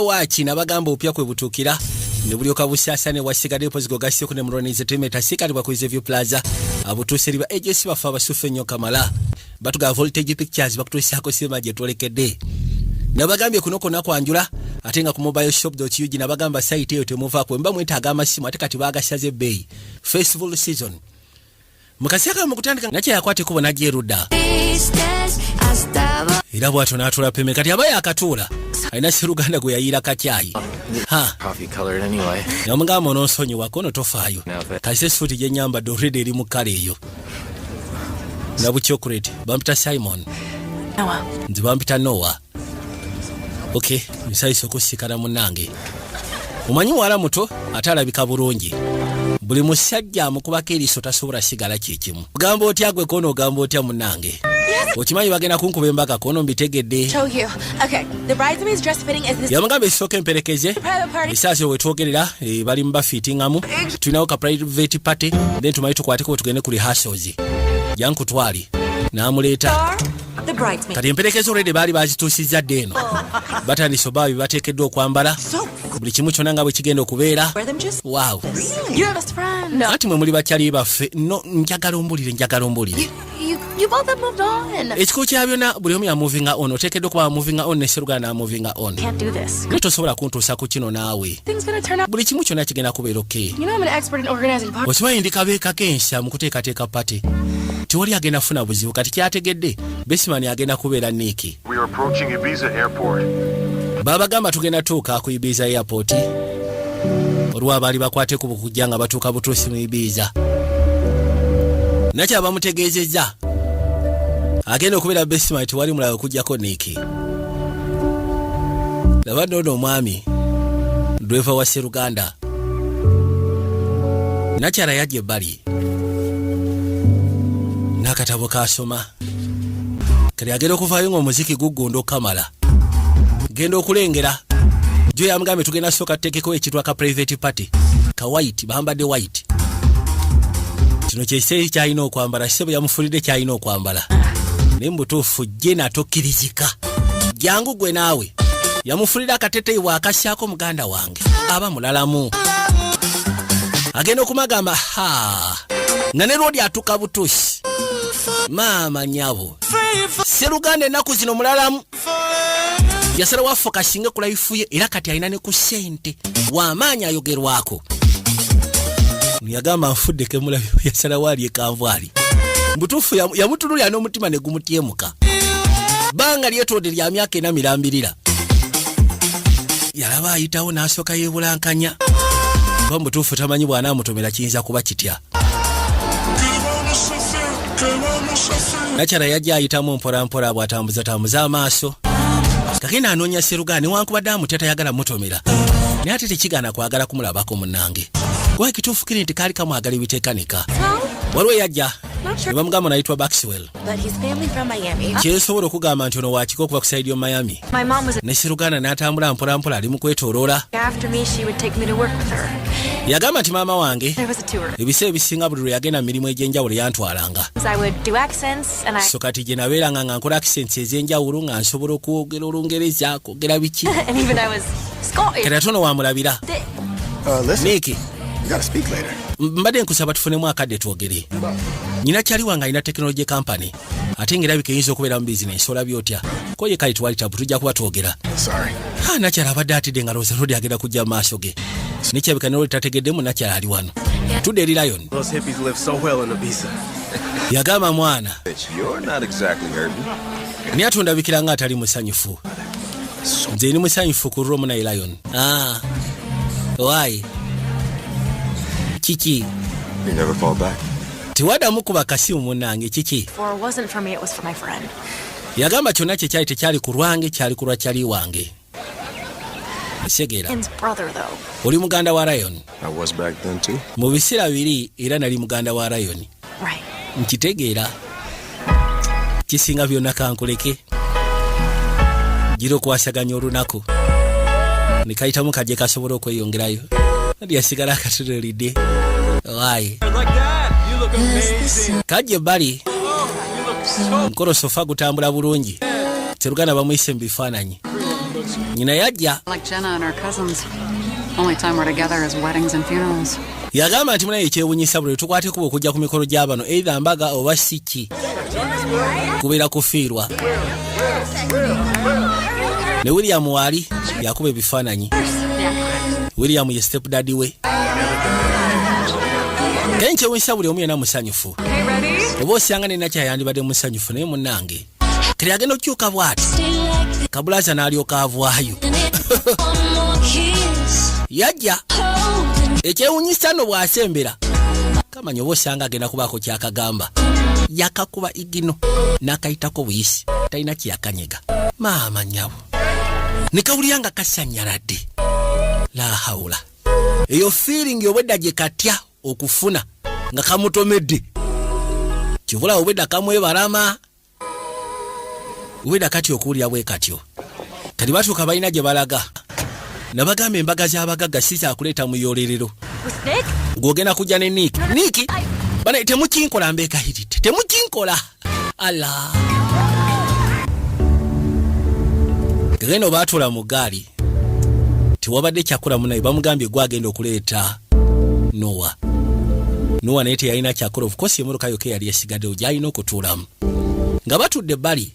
waaki nabagamba opya kwe butuukira ne bulyoka busaasane wasigaddeyo pozigo gasseko ne mulwaniriza teme tasiikalibwa ku izeview plaza abutuuse liba ejesi baffe abasuffu ennyo kamala batugaa voltage pictures bakutuusaako sirima gye twolekedde nabagambye kuno kona kwanjula ate nga ku mobile shop ug nabagamba sayiti eyo temuvaako mba mwetaaga amasimu ate kati bagasaze ebbeeyi festival season mukasiaka mukutandika nga kyeyakwata ekubo najja erudda era bwatyo n'atula peme kati aba yakatuula alina siruganda gwe yayiira kakyayi namugamba ononsonyiwako ono tofaayo kasita esuuti gyenyambadde oredi eri mu kkala eyo nabucyokureti bampita simon nze bampita nowa Okay, nsayise okusikana munange. Omanyi wala muto ate alabika bulungi. Buli musajja amukubako eriiso tasobola sigala kyekimu. Ogamba otya gwe kono ogamba otya munange. Okimanyi bagenda kunkuba embaka kono mbitegedde. Yamugamba esooka emperekeze esaasi we twogerera e, bali mu bafiitingamu tulinawo ka private party then tumanyi tukwateko tugende ku rehearsals. Yankutwali n'amuleeta. kati emperekezo rede baali bazituusizza dde eno batandise oba bebateekeddwa okwambala buli kimu kyona nga bwe kigenda okubeera waw anti mwe muli bakyali baffe no njagala ombulire njagala ombulire ekikulu kya byona buli omu yamuvinga on oteekeddwa okuba wamuvinga on neserugala namuvinga on tosobola kuntuusa ku kino naawe buli kimu kyonna kigenda kubeera oke okimanyi ndi kabeeka k'ensa mu kuteekateeka pate tewali agenda kufuna buzibu kati kyategedde besimani agenda kubeera niiki babagamba tugenda tuuka ku ibiiza airport olwo abaali bakwateku bukujja nga batuuka butuusi mu ibiiza nakyabamutegeezezza agenda okubeera besimani tewali mulabe okujjako niiki laba noono omwami dweva wa seruganda nakyala yajja ebbali n'akatabo kasoma kati agenda okuvaayo ng'omuziki guggunda okukamala genda okulengera jo yamugambye tugenda sooka tuteekeko ekitwa ka private party ka white bambadde white kino kyekisee kyalina okwambala kise bwe yamufulidde kyalina okwambala naye mubutuufu jena tokkirizika jangu gwe naawe yamufulira akateteyi bwakasyako muganda wange aba mulalamu agenda okumagamba ha nga ne lwodi atuka butusi maama nyabo seruganda ennaku zino mulalamu yasala waffe kasinga kulayifuye era kati alina ne ku sente wamaanyi ayogerwako yagamba nfudde kemulabi yasalawo alyekanvwali mbutuufu yamutunulira n'omutima ne gumutyemuka bbanga lyetwode lya myaka ena mirambirira yalaba ayitawo n'asooka yebulankanya kuba mubutuufu tamanyi bwanaamutomera kiyinza kuba kitya nakyala yajja ayitamu mpolampola bwatambuza tambuza amaaso kakina anoonya serugaa newankubadde amutya tayagala mutomera naye ate tekigaana kwagala kumulabako munange kuba ekituufu kiri nti kaali kamwagala ebitekanika waliwo eyajja nebamugamba nayitwa baxwell kyensobola okugamba nti ono wakika okuva ku saidi yo miami ne siruganda n'atambula mpolampola ali mu kwetoloola yagamba nti maama wange ebiseera ebisinga buli lwe yagenda mu mirimu egy'enjawulo yantwalanga so kati gye nabeeranga nga nkola accents ez'enjawulo nga nsobola okwogera olungerezako ogera biki kati ate ono wamulabira uh, niiki mbadde nkusaba tufunemu akadde twogere nyina kyali wange alina tekinologi kampany ate nga erabika eyinza okubeera mu bizinensi olabye otya koye kali twali tabu tujja kuba twogera ah, nakyala abadde atidde nga lowooza nodi agenda kujja mu maaso ge nekyabika noli tategeddemu nakyala ali wano tudde eri lion yagamba mwana naye ate ondabikira nga atali musanyufu nze ni musanyufu ku romu naye lion ah, wayi kiki tewadamu kuba kasimu munange kiki yagamba kyonna kyekyali tekyali ku lwange kyali kulwa kyali wange kitegeera oli muganda wa rayoni mu biseera biri era nali muganda wa rayoni nkitegeera kisinga byonna kankuleke gira okwasaganya olunaku nekayitamu kaje kasobola okweyongerayo ndi yasigala akatunulidde waye kaje bali mukolo sofa gutambula bulungi teruganda bamuyise mu bifaananyi nyina yajja yagamba nti munaye ekyewunyisa buli tukwate kuba okujja ku mikolo gya bano eitha mbaga oba siki kubeera kufiirwa ne william waali yakuba ebifaananyi william ye step dadi we naye nkyewunyisa buli omu yena musanyufu oba osanga nenakyayandibadde musanyufu naye munange kati agenda okukyuka bwati kabulaza n'alyoka avwayo yajja ekyewunyisa no bw'asembera kamanya oba osanga agenda kubaako kyakagamba yakakuba igino n'akayitako buyisi talina kyeyakanyega maama nyabo nekawulira nga kasanyaladde lahawula eyo fiiringi obwedda gye katya okufuna nga kamutomedde kibula obwedda kamwebalama obwedda kati okuwulira bwe katyo kati batuuka balina gye balaga nabagamba embaga z'abagagga si kyakuleeta mu yolerero ng'ogenda kujja ne niiki niiki bana temukinkola mbeekahiridde temukinkola Allah. Geno baatula mu gaali tewabadde kyakula munaye bamugambye gwe agenda okuleeta Noa. Noa naye teyalina kyakula ofukosi emmotoka yokka yali esigaddewo gyalina okutuulamu nga batudde ebbali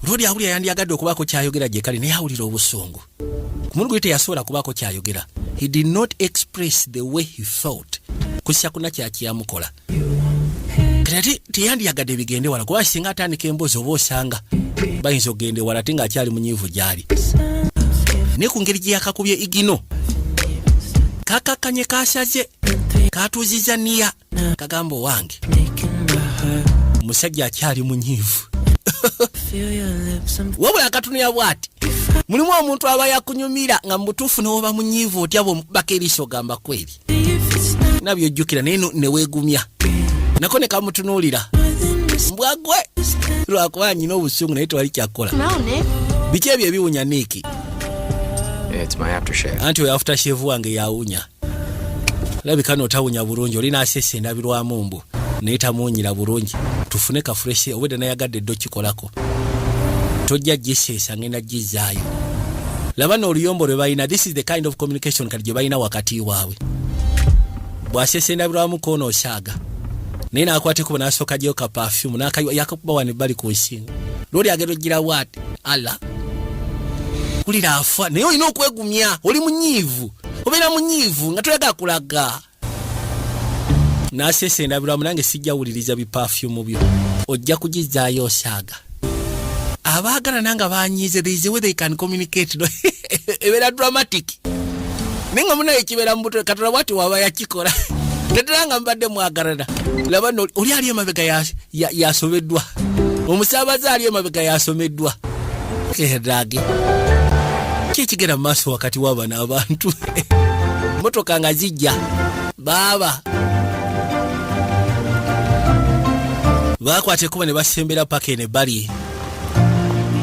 Lodi awulira yandyagadde okubaako kyayogera gyekali naye awulira obusungu. ku mulundi guli teyasobola kubaako kyayogera he did not express the way he felt kusa kuna kyakiyamukola ati teyandiyagadde bigende wala kuba singa atandika emboozi oba osanga bayinza okugenda ewala ate ngaakyali munyiivu gyali naye ku ngeri gye yakakubye igino kakakkanye kasaze katuuziza niya kagamba owange omusajja akyali munyiivu wabula akatunira bwati mulimu omuntu aba yakunyumira nga mubutuufu newoba munyiivu otya bwomukubako eriiso ogamba kweri nabyo ojjukira naye neweegumya nako ne kamutunuulira mbwagwe lwakuba nyina obusungu naye tewali kyakukola biki ebyo ebiwunya niiki anti oyo afutasheve wange yawunya labika notawunya bulungi olina asesa endabirwamu mbu naye tamuwunyira bulungi tufune kafuresi obwedda nayagadde dde okikolako tojja giseesa ngenda gizaayo laba nooluyombo lwe balina this is the kind of communication kati gye balina wakati waabwe bwasesa endabirwamu koona osaaga naye nakwatekuba nasooka gyeyo ka pafyumu yakakuba wani bali ku nsinga lwoli agenda ogira waati allah wulira afa naye olina okwegumya oli munyiivu obeera munyiivu nga toyaga kulaga nasesa endabirwamu nange sijja wuliriza bipafyumu byo ojja kugizaayo osaaga abaagala nanga banyiize theisewe they can communicate no ebeera dramatic naye nga munaye kibeera mu butwe katonda bwati waba yakikola tetera nga mbadde mwagalana laba oli ali emabega yasomeddwa omusaabaze ali emabega yasomeddwa erage kyekigenda mu maaso wakati wabano abantu motoka nga zijja baaba bakwata ekuba ne basembera paka eno ebbali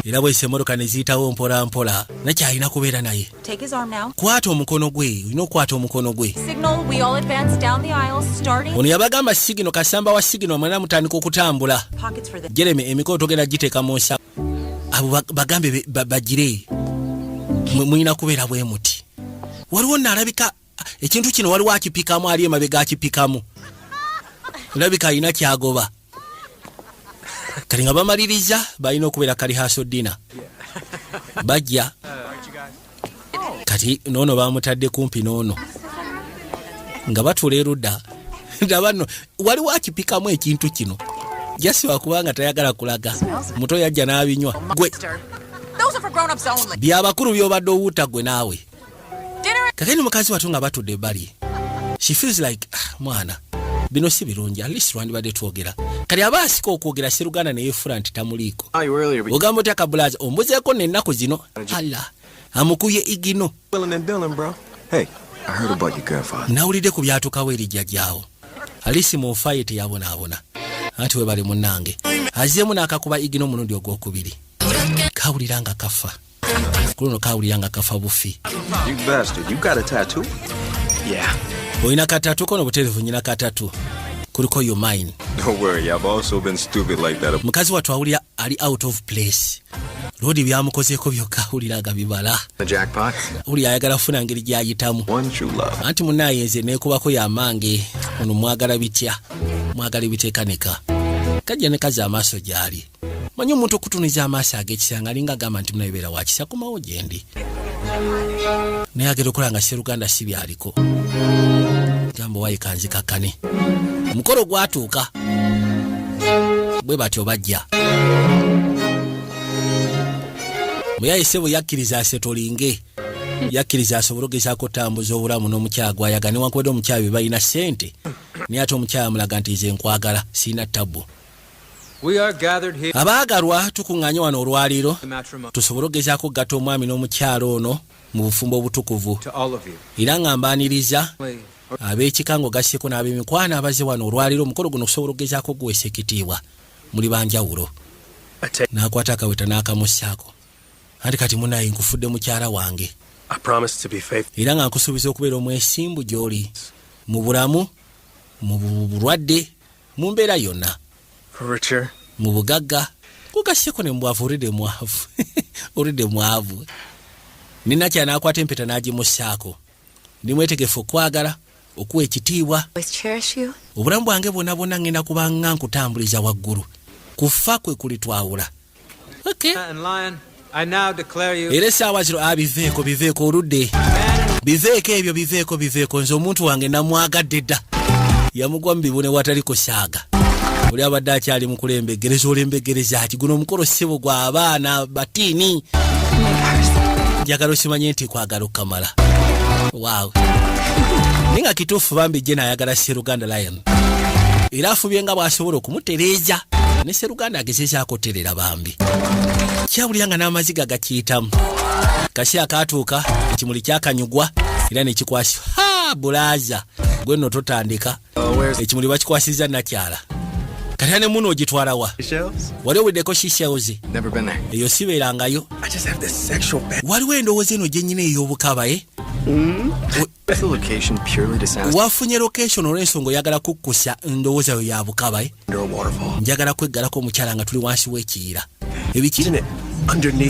era bwese emotoka ne ziyitawo mpolampola nakyalina kubeera naye Take his arm now. Kwata omukono gwe. Olina okukwata omukono gwe. Signal, we all advance down the aisle, starting... Ono yabagamba sigino, kasamba wa sigino, mwena mutandika okutambula. Pockets for the... Jeremy, emikono togenda giteeka mu nsa. Abo bagambe bagire. Mulina kubeera bwe muti. Waliwo nalabika ekintu kino waliwo akipikamu ali emabega akipikamu olabika alina kyagoba kati nga bamaliriza balina okubeera kali haso dina bajja kati noono bamutadde kumpi noono nga batula erudda ndabano waliwo akipikamu ekintu kino jasi wakubanga tayagala kulaga muto yajja n'abinywa gwe byabakulu byobadde owuuta gwe naawe kakeni mukazi watu nga batudde ebbali she feels like ah, mwana bino si birungi at least lwandibadde twogera kati aba asika okwogera seruganda neyefula nti tamuliiko ogamba otya kabulaza ombuzeeko nennaku zino alla amukuye igino nawulidde ku byatukawo eri jjajjaawo alisi mu nfa ye teyabonaabona anti webali munnange azzeemu n'akakuba igino omulundi ogwokubiri kawulira nga kafa kuluno kawulira nga kafa bufi olina katatu kono buterevu nyina katatu kuliko yo mine mukazi wattu awulira ali out of place lodi byamukozeeko byokka awulira nga bibala wuli ayagala kufuna ngeri gyayitamu anti munaye nze nekubako yamange ono mwagala bitya mwagala ebitekaneka kajja nekazi amaaso gyali manyi omuntu okutuniza amaaso agekisanga alinga agamba nti munabeera wakisa komawo gyendi naye agera okola nga seruganda si byaliko gamba wayikanzikakkane omukolo gwatuuka bwe batyo bajja muyayise bwe yakkiriza asetolinge yakkiriza asobole ogezaako otambuza obulamu n'omukyala gwayaga newankubadde omukyala bye balina ssente naye ate omukyala amulaga nti nze nkwagala sirina tabbu Abaagalwa tukuŋŋaanye wano olwaliiro tusobole okugezaako okugatta omwami n'omukyala ono mu bufumbo obutukuvu era nga mbaaniriza ab'ekika ng'ogasseeko n'ab'emikwano abaze wano olwaliiro omukolo guno okusobola okugezaako okuguweesa ekitiibwa muli banjawulo n'akwata akaweta n'akamussaako anti kati munaye nkufudde mukyala wange era nga nkusuubiza okubeera omwesimbu gy'oli mu bulamu mu bulwadde Mu mbeera yonna. Richer. Mu bugagga. Kugasseko ne mubwavu olidde mwavu. olidde mwavu. Nina kya n'akwata empeta n'agimussaako. Ndi mwetegefu okwagala, okuwa ekitiibwa. Obulamu bwange bwonna bwonna ngenda kubanga nkutambuliza waggulu. Kufa kwe kulitwawula. Okay. era esaawa zino abiveeko ah, biveeko oludde biveeko ebyo biveeko biveeko nze omuntu wange namwagadde dda yamugwa mu bibune watali kusaaga oli abadde akyali mukulembegereza olembegereza ki guno omukolo ssebo gwa abaana batiini njagala osimanye nti kwagala okukamala waawe naye nga kituufu bambi je nayagala seruganda lion era afubye nga bw'asobola okumutereeza ne seruganda agezezaako oterera bambi kyawulira nga n'amaziga gakiyitamu kasi akaatuuka ekimuli kyakanyugwa era nekikwasi ha bulaaza gwe nno totandika ekimuli bakikwasiza nakyala kati ne muno ogitwalawa wali owedeko shishelzi eyo sibeerangayo waliwo endowooza eno gyenyina ey'obukabaye eh? mm-hmm. wafunye location olwensonga oyagala kukkusa ndowooza yo ya bukaba eh? njagala kweggalako omukyala nga tuli wansi w'ekiyira ebikiri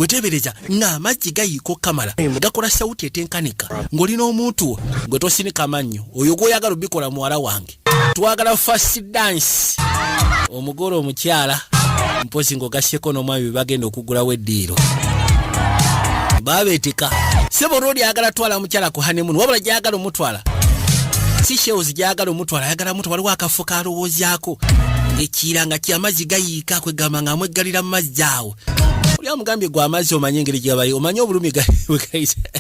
wetebereza ng'amazzi gayiika okukamala gakola sawuti etenkanika ng'oli n'omuntu wo gwe tosinika mannyo oyo gwoyagala obikola muwala wange twagala fast dance omugole omukyala mpozi ngaogasyeko n'omwami bebagenda okugulawo eddiiro babeetika sebo olwo lyagala twala mukyala ku hanemunu wabula gyagala omutwala si shews gyagala omutwala ayagala mutu waliwo akafo kalowoozaako ekiira nga kyamazzi gayiika kwegamba nga amweggalira mu mazzi awo oli amugambye gwe amazzi omanye engeri gyabayi omanye obulumi bwegayisa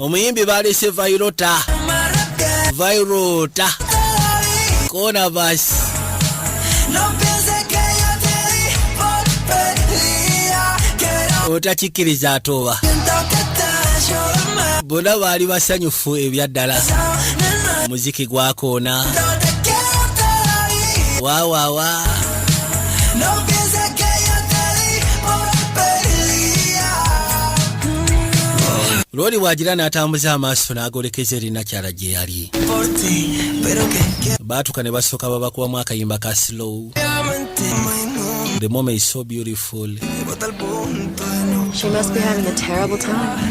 omuyimbi baalese vairota vairota kona basi otakikkiriza atooba bona baali basanyufu ebyaddala muziki gwakoona wawawa wow, wow, wow. lwoli bwagira n'atambuza amaaso n'agolekeza erina kyala gye yali baatuka ne basooka babakubamu akayimba ka slow the moment is so beautiful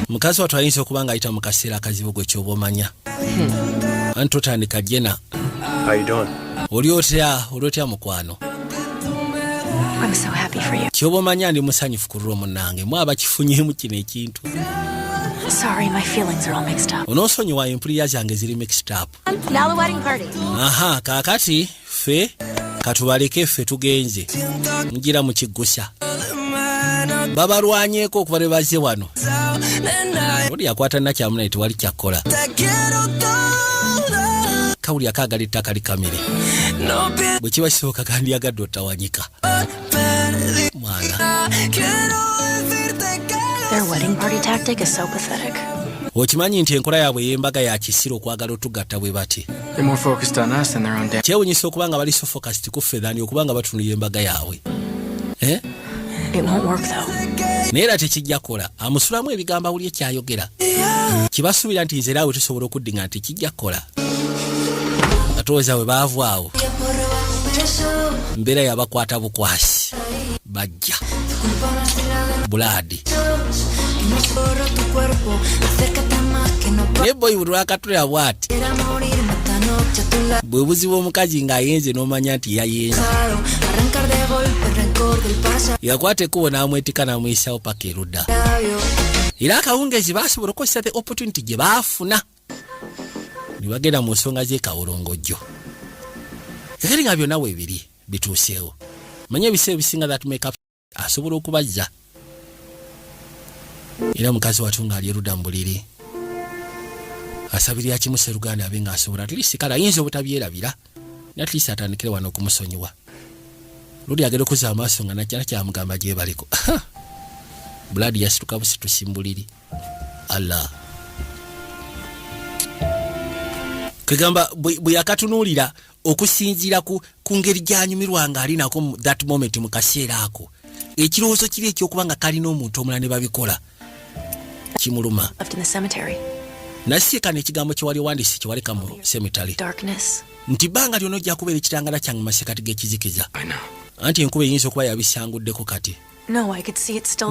mukazi watu ayinza okuba ng'ayita mu kaseera akazibu gwe kyoba omanya hmm. anti otandika jena oli otya oli otya mukwano kyoba omanya ndi musanyufu ku lulwo munange mwe abakifunyemu kino ekintu onosonyiwa empulira zange ziri mixed up aha kakati ffe katubaleke ffe tugenze mujira mukiggusa babalwanyeko okuba ne bazze wano oli akwata nakyamu naye tewali kyakkola kawuli akaagala ettaka likamire bwe kiba kisoboka kandyagadde otawanyika mwana okimanyi nti enkola yaabwe ey'embaga ya kisiru okwagala otugatta bwe bati kyewunyisa okuba nga bali sofokasiti kuffe dhani okuba nga batunula embaga yaabwe eh? naye era tekijja kukola amusulamu ebigambo awulye kyayogera kibasuubira nti nzera awe tusobola okuddinga nti kijja kukola atoweza we baavu awo mbeera yabakwata bukwasi bajja bulaadi naye boyi buli lwakatulira bwati bwe buzibu omukazi ng'ayenze n'omanya nti yayenze yakwata ekkubo n'amwetika n'amuyisaawo paka erudda era akawungeezi baasobola okukozesa the opportunity gye baafuna ne bagenda mu nsonga z'ekawolongojjo kakati nga byonna weebiri bituuseewo manya ebiseera ebisinga that make up asobola okubazza era mukazi watu ng'ali eruda mu buliri asabirira kimu seruganda abe ng'asobola atlist kale ayinza obutabyerabira natlist atandikire wano okumusonyiwa luli agenda okuza amaaso nga nakyala kyamugamba gyebaliko buladi yasituka busitusi mu buliri allah kegamba bwe yakatunuulira okusinziira ku, ku ngeri gy'anyumirwa ng'ali nako that moment mu kaseera ako ekirowoozo kiri ekyokuba nga kalina omuntu omulala ne babikola kimuluma nasiekano ekigambo kyewali owandisi kyewaleka mu semitale nti bbanga lyona ojja kubeera ekitangala kyange masekati g'ekizikiza anti enkuba eyinza okuba yabisanguddeko kati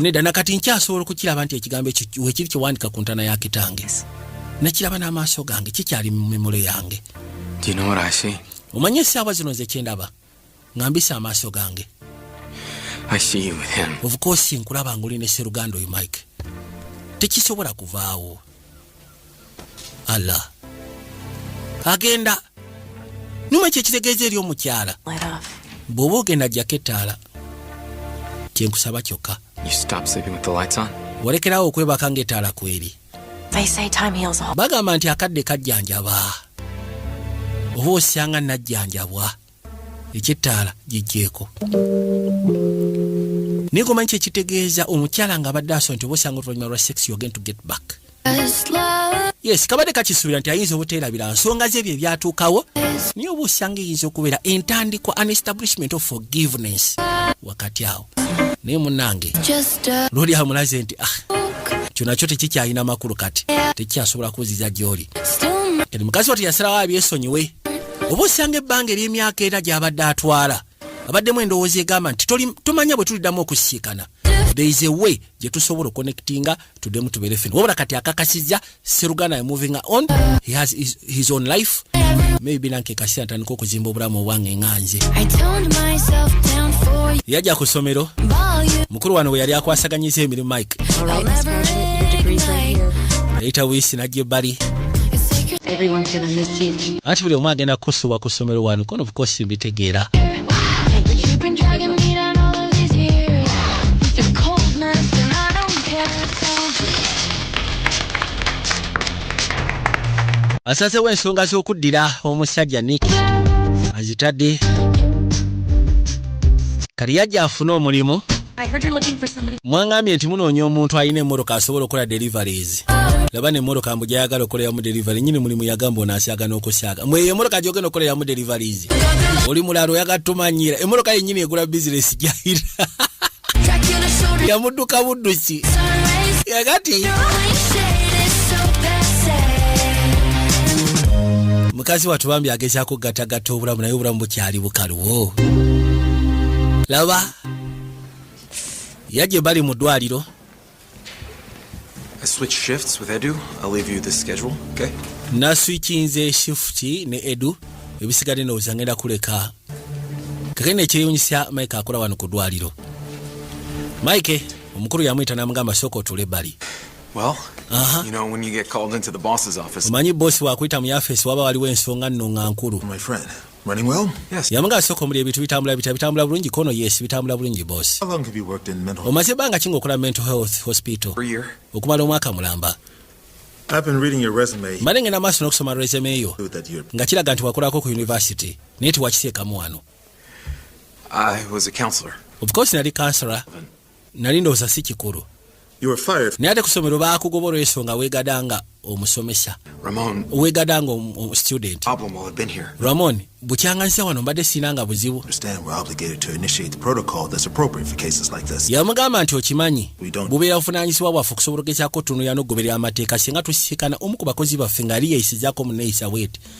nedda nakati nkyasobola okukiraba nti ekigambo ekyo wekiri kyewandika ku ntana ya kitange nakiraba n'amaaso gange kikyali mu mimule yange omanye esaawa zino nze kyendaba nga mbisa amaaso gange ovukosi nkulaba nga oli ne seruganda oyo mike tekisobola kuvaawo Allah agenda nyuma kyekitegeeza eri omukyala bw'oba ogenda jjako ettaala kyenkusaba kyokka walekerawo okwebaka ng'ettaala kweri bagamba nti akadde kajjanjaba oba osanga najjanjabwa ekyettaala gijjeeko naye gomanyi kyekitegeeza omukyala nga abadde aso nti obosanga oluvanyuma lwa sex yogen to get back yes kabadde kakisuubira nti ayinza obuteerabira nsonga ze ebyo ebyatuukawo naye oba osanga eyinza okubeera entandikwa an establishment of forgiveness wakati awo naye munange luli amulaze nti ah, kyo nakyo tekikyalina makulu kati tekikyasobola kuziza gyoli kati mukazi wati yasalawo abyesonyiwe oba osanga ebbanga eryemyaka era gyabadde atwala abaddemu endowooza egamba nti tomanya bwe tuliddamu okusiikana there is a way gye tusobola okonectinga tudemu tubere fina wabula kati akakasiza seruganda ya moving on he has his, his own life maybe nanke kasira atandika okuzimba obulamu obwange nga nze yajja ku ssomero mukulu wano we yali akwasaganyiza emirimu mike yayita wiisi najja ebbali anti buli omu agenda kukusubwa ku ssomero wano kono bukosi mbitegeera asazewo ensonga z'okuddira omusajja nik azitadde kati yajja afune omulimu mwangambye nti munoonya omuntu alina emmotoka asobola okukola deliveries laba nemmotoka mbu gyayagala okukoleramu delivery nyini mulimu yagamba onasyaga n'okusyaga mwe eyo emmotoka gyogenda okukoleramu deliveries oli mulala oyagala tumanyira emmotoka yennyini egula bizinesi gyayira yamudduka budduki yagati mukazi watu bambi agezaako okugatagatta obulamu naye obulamu bukyali bukaluwo laba yaje bali mu ddwaliro naswikinze shifuti ne edu ebisigadde ndowooza ngenda kuleka kake nekyeyunyisa mike akola wano ku ddwaliro mike omukulu yamuyita namugamba sooka otule ebbali Well, uh-huh. you know, when you get called into the boss's office. Manyi boss wa kuita mu office waba waliwo ensonga nno nga nkulu. My friend. Running well? Yes. Yamanga asoko omuli ebintu bitambula bitya bitambula bulungi kono yes bitambula bulungi boss. How long have you worked in mental health? Omaze banga kingo kula mental health hospital. For a year. Okumala omwaka mulamba. I've been reading your resume. Mane ngena maso nokusoma resume yo. Nga kiraga nti wakolako ku university. Naye tiwakisekamu wano. I was a counselor. Of course nali counselor. nali ndowooza si kikulu naye ate ku ssomero baakugoba olw'ensonga weegada nga omusomesa weegada nga student ramon bukyanganyisa wano mbadde sirina nga buzibu yamugamba nti okimanyi bubeera buvunaanyizibwa bwaffe okusobola ogezaako otunulira n'okugoberera amateeka singa tusisikana omu ku bakozi baffe ng'ali yeeyisizaako mu neeyisa bweti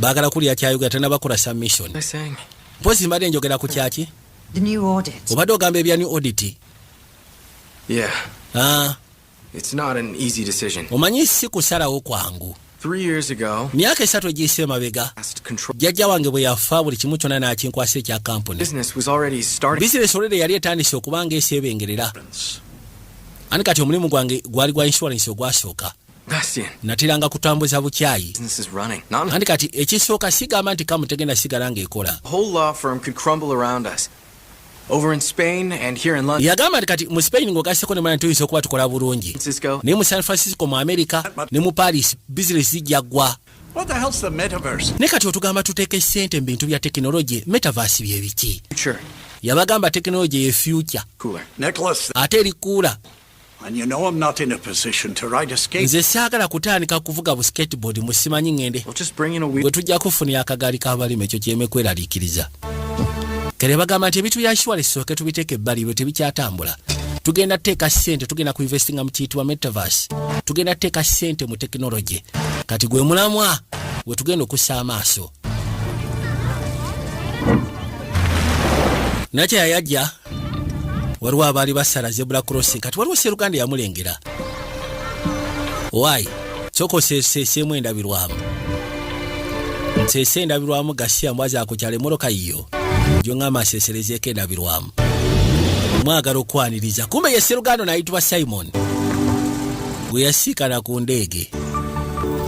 bagala kulya kyayogera tanabakola submission mpozi mbadde njogera ku kyaki obadde ogamba ebya new audit yeah. ah. It's not an easy decision. Omanyi si kusalawo kwangu. myaka esatu egiyise emabega jjajja wange bwe yafa buli kimu kyonna n'akinkwasa ekya kampuni bizinesi olere yali etandise okuba nga eseebengerera ani kati omulimu gwange gwali gwa inshuwarensi ogwasooka nateranga kutambuza bukyayi andi kati ekisooka sigamba nti kamu tegenda sigala ng'ekola yagamba nti kati mu spain ng'ogaseko ne mwana tuyinza okuba tukola bulungi naye mu san francisco mu amerika ne mu paris bizinesi zijja ggwa ne kati otugamba tuteeka essente mu bintu bya tekinologi metaverse bye biki yabagamba tekinologi ye future ate erikuula nze saagala kutandika kuvuga bu skateboard mu simanyi ŋŋende gwe tujja kufunira akagaali k'abalima ekyo kyeme kweraliikiriza kere bagamba nti ebintu bya shuwale sooke tubiteeka ebbali ebyo tebikyatambula tugenda teeka sente tugenda ku investinga mu kiyitibwa metaverse tugenda teeka sente mu tekinologi kati gwe mulamwa we tugenda okussa amaaso nakyeyayajja waliwo abaali basala zebula crossing kati waliwo seruganda yamulengera wayi kyoko seseemu endabirwamu nsese endabirwamu gasiya mbwazi akukyala emoroka yiyo gyongamba aseserezeeko endabirwamu mwagala okwaniriza kumbe ye seruganda nayitibwa simon gwe yasiikana ku ndeege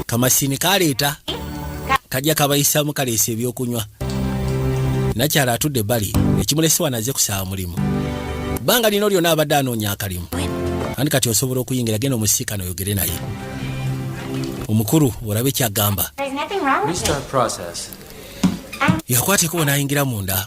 kamasini kaleeta kajja kabayisamu kaleesa ebyokunywa nakyala atudde ebbali ekimulese wano aze kusaba mulimu bbanga lino lyona abadde anoonya akalimu andi kati osobola okuyingira genda omusiikana oyogere naye omukulu olabe kyagamba yakwata ekubo nayingira munda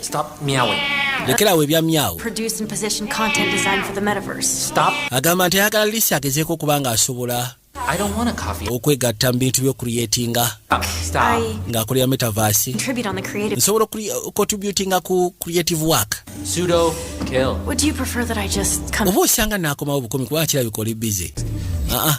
Stop meowing. Lekerawo ebya myawo. Produce and position content design for the metaverse. Stop. Agamba nti ayagala Lisi agezeeko okuba ng'asobola okwegatta mu bintu by'okuliyetinga ng'akolera metaverse. Nsobola okukotributinga ku creative work. Oba osanga naakomawo bukomi kuba kirabika oli bize. Ah, ah.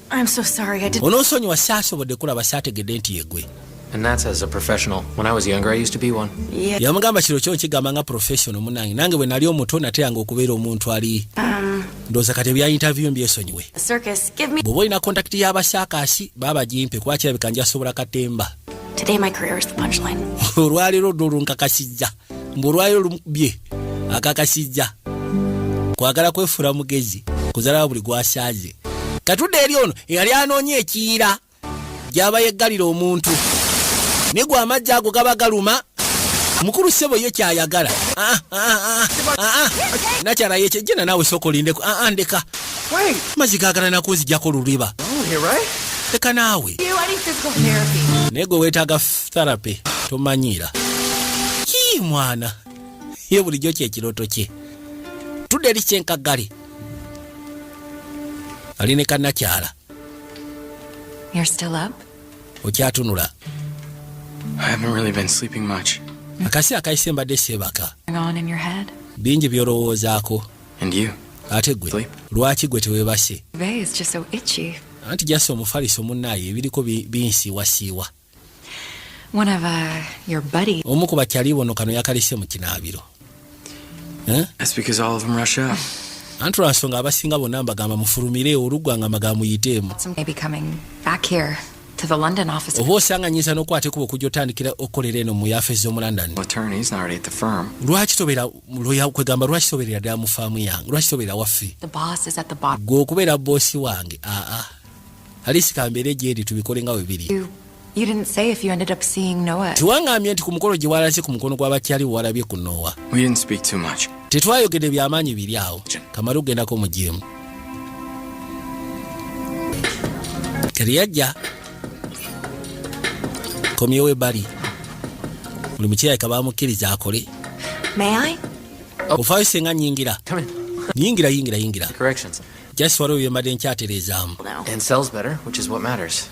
onoosonyiwa saasobodde kulaba saategedde nti yegwe yamugamba kiro kyo nkigamba nga professional munange nange bwe nali omuto nateyanga okubeera omuntu ali um, ndowooza kati ebya interview mbyesonyiwe bw'oba olina kontakiti y'abasaakaasi baaba gimpe kuba kirabika njasobola katemba olwaleero ddo olunkakasizza mbu olwayo olumukubye akakasizza kwagala kwefuula mugezi kuzalawo buli gwasaaze katudde eri ono eyali anoonya ekiyira gyaba yeggalira omuntu naye gwe amajja ago gaba galuma mukulu sebo ye kyayagala ah, ah, ah, nakyala yekyejjena naawe sooka olindeko ndeka mazzi gagala nakunzijako luliba leka naawe naye gwe weetaaga therapy tomanyiira yii mwana ye bulijjo kyekiroto kye tudde eri kyenkagali ali ne kanakyala okyatunula akasi akayise mbadde seebaka bingi byolowoozaako ate gwe lwaki gwe tewebase anti jasi omufaliso munaayo ebiriko binsiiwasiiwa One of, uh, your buddy. Omu ku bakyali bono kano yakalise mu kinaabiro. Eh? That's because all of them rush out. Anti lwa nsonga abasinga bonna mbagamba mufulumire oluggwa nga maga muyiteemu. Oba osanga nyinza n'okwata ekuba okujja otandikira okukolera eno mu yafeesi z'omu London. Lwaki tobeera loya kwegamba lwaki tobeerera ddala mu faamu yange lwaki tobeera waffe? Gwe okubeera boosi wange aa. Ah, ah. alisi kambeere gyeri tubikole nga webiri tiwangambye nti ku mukolo gye walase ku mukono gwa bakyali wewalabye ku noowa tetwayogede byamaanyi biri awo kamale okugendako mu jimu kati yajja komyewo ebali buli mukirayika bamukkiriza akole ofaayo senga nyingira yingira yingira yingira Just waliwo bye mbadde nkyatereezaamu. And sells better, which is what matters.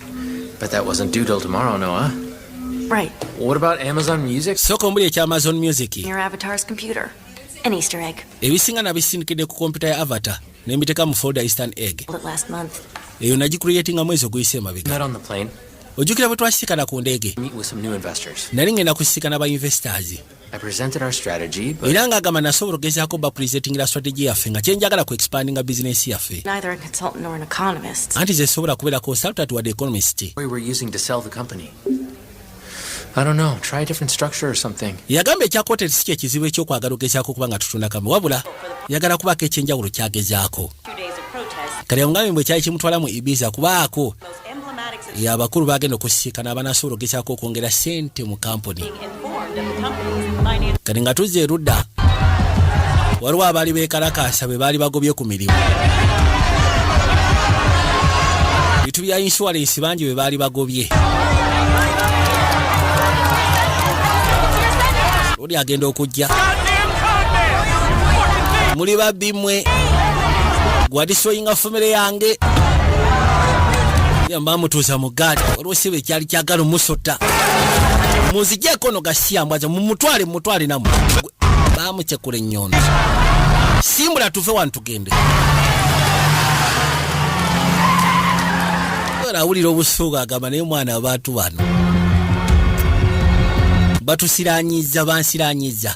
But that wasn't due till tomorrow, Noah. Right. What about Amazon Music? Sooka omuli ekya Amazon Music. Your avatar's computer. An Easter egg. Ebisinga nabisindikidde ku kompyuta ya Avatar ne mbiteeka mu folder Eastern egg. Last month. Eyo nagikuliyetinga mwezi oguyise emabega. Not on the plane. ojjukira bwe twasisikana ku ndeege nali ngenda kusisikana ba investors era nga agamba nasobola okugezaako bapulizetingira strategy yaffe nga kyenjagala ku expandinga bizinensi yaffe anti zesobola kubeera consultant wadde economist yagamba ekyakwoteri si kyekizibu ekyokwagala ogezaako okuba nga tutunda kambe wabula yagala kubaako ekyenjawulo kyagezaako kale yamugambye bwe kyali kimutwala mu ibiza kubaako abakulu bagenda okusisikana abanasobola ogezaako okwongera sente mu kampuni kati nga tuzza erudda waliwo abaali bekalakaasa bwe baali bagobye ku mirimu bitu bya insuwalensi bangi bwe baali bagobye oli agenda okujja muli babbi mwe gwadisoyinga famire yange yamba mutuuza mu gaali waliwo siba ekyali kyagala omusota munzijeeko no gasiya mbwaza mumutwale mumutwale namu bamucekula ennyondo simbula tuve wano tugende era awulira obusuuga agamba naye omwana abantu bano batusiranyiza bansiranyiza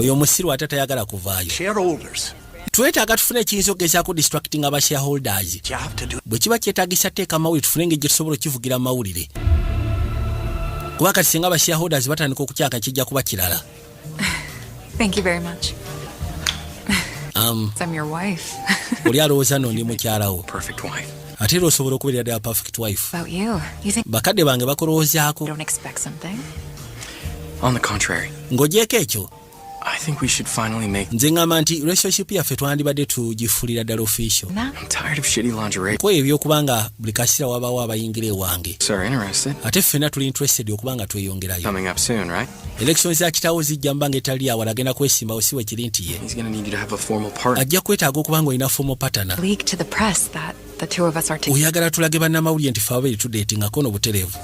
oyo omusiru ate tayagala kuvaayo twetaaga tufune ekiyinza okugezaako distracting aba shareholders bwe kiba kyetagisa teeka amawulire tufune engeri gyetusobola okukivugira amawulire kuba kati singa aba shareholders batandika okukyaka kijja kuba kirala um, oli alowooza no ndi mukyalawo ate era osobola okubeera ddala perfect wife bakadde bange bakulowoozaako ng'ogyeko ekyo nze ngamba nti relationship yaffe twandibadde tugifulira ddala official kweyo ebyokuba nga buli kasira wabaawo abayingira ewange ate ffena tuli interested okuba nga tweyongerayo Election za kitawo zijja mbanga etali awala agenda kwesimba osiwe kiri nti ye ajja kwetaaga okuba nga olina formal partner oyagala tulage bannamawulire nti fe ababiri tudetingako no butereevu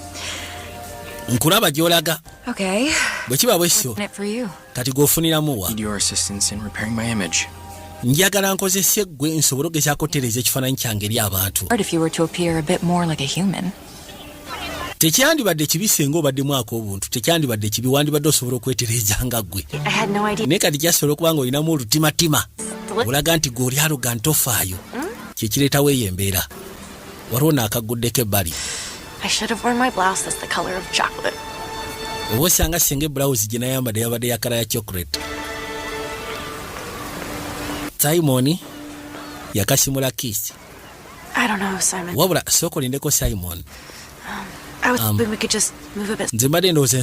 nkulaba gyolaga bwe kiba bwekityo kati gweofuniramu wa njagala nkozese gwe nsobole ogezaako tereeza ekifaananyi kyange eri abantu tekyandibadde kibi senga obadde mwaka obuntu tekyandibadde kibi wandibadde osobola okwetereeza nga ggwe naye kati kyasobola okuba nga olinamu olutimatima olaga nti gwe oli aloga ntofaayo hmm? kyekireetawo eyo embeera waliwo naakagguddeko ebbali oba osanga senga ebulawuzi gye nayambadde yabadde yakala ya chocolate simoni yakasimula kiisi wabula sooka olindeko simon um, um, nze mbadde ndowooza